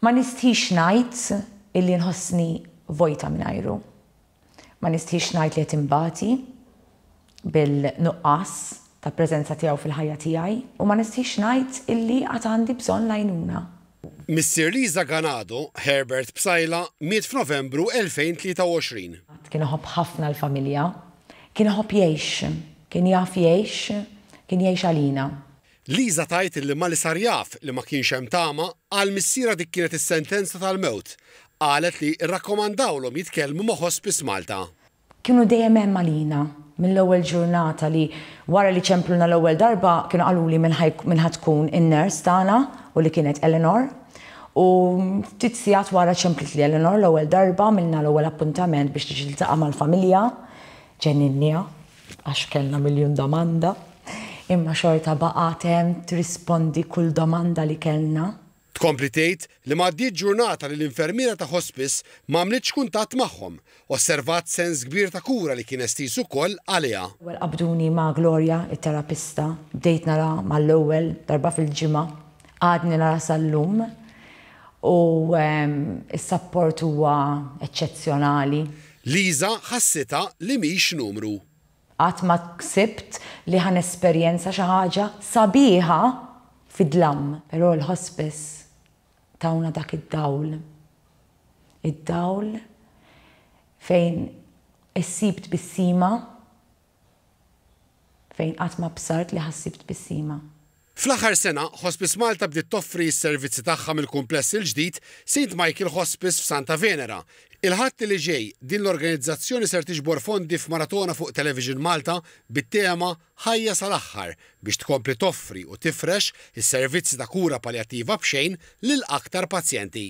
Ma nistħix ngħid illi nħossni vojta mingħajru. Ma nistħix ngħid li qed inbati bil-nuqqas ta' preżenza tiegħu fil-ħajja tiegħi u ma nistħix ngħid illi għad għandi bżonn l-għajnuna. Missier Lisa Ganado, Herbert Psaila, miet f'Novembru 2023. Kien iħobb ħafna l-familja. Kien iħobb jgħix. Kien jaf jgħix. Kien jgħix għalina. Lisa tgħid li malli sar jaf li ma kienx hemm tama, għal missierha dik kienet is-sentenza tal-mewt. Qalet li rrakkomandawlhom jitkellmu ma' Hospice Malta. Kienu dejjem hemm għalina. Mill-ewwel ġurnata li wara li ċempluna l-ewwel darba kienu qaluli min ħa min ħa tkun in-nurse tagħna u li kienet Eleanor. U ftit sigħat wara ċemplitli Eleanor l-ewwel darba, għamilna l-ewwel appuntament biex tiġi tiltaqa' mal-familja. Ġenninniha. Għax kellna miljun domanda, imma xorta baqgħet hemm trispondi kull domanda li kellna. Tkompli tgħid li m'għaddietx ġurnata li l-infermiera ta' hospice m'għamlitx kuntatt magħhom, osservat sens kbir ta' kura li kien estiż ukoll għaliha. L-ewwel qabduni ma' Gloria, it-terapista, bdejt nara mal-ewwel darba fil-ġimgħa, għadni nara sal-lum u s-sapport huwa eċċezzjonali. Liza ħassitha li mhix numru. Qatt ma ħsibt li ħa nesperjenza xi ħaġa sabiħa fid-dlam. Però l-Hospice tawna dak id-dawl. Id-dawl fejn issib tbissima fejn qatt ma bsart li ħa ssib tbissima. Fl-aħħar sena, Hospice Malta bdiet toffri s-servizzi tagħha mill-kumpless il-ġdid St Michael Hospice f'Santa Venera. Il-Ħadd li ġej, din l-organizzazzjoni ser tiġbor fondi f'maratona fuq Television Malta bit-tema Ħajja sal-aħħar biex tkompli toffri u tifrex is-servizzi ta' kura paljattiva b'xejn lil aktar pazjenti.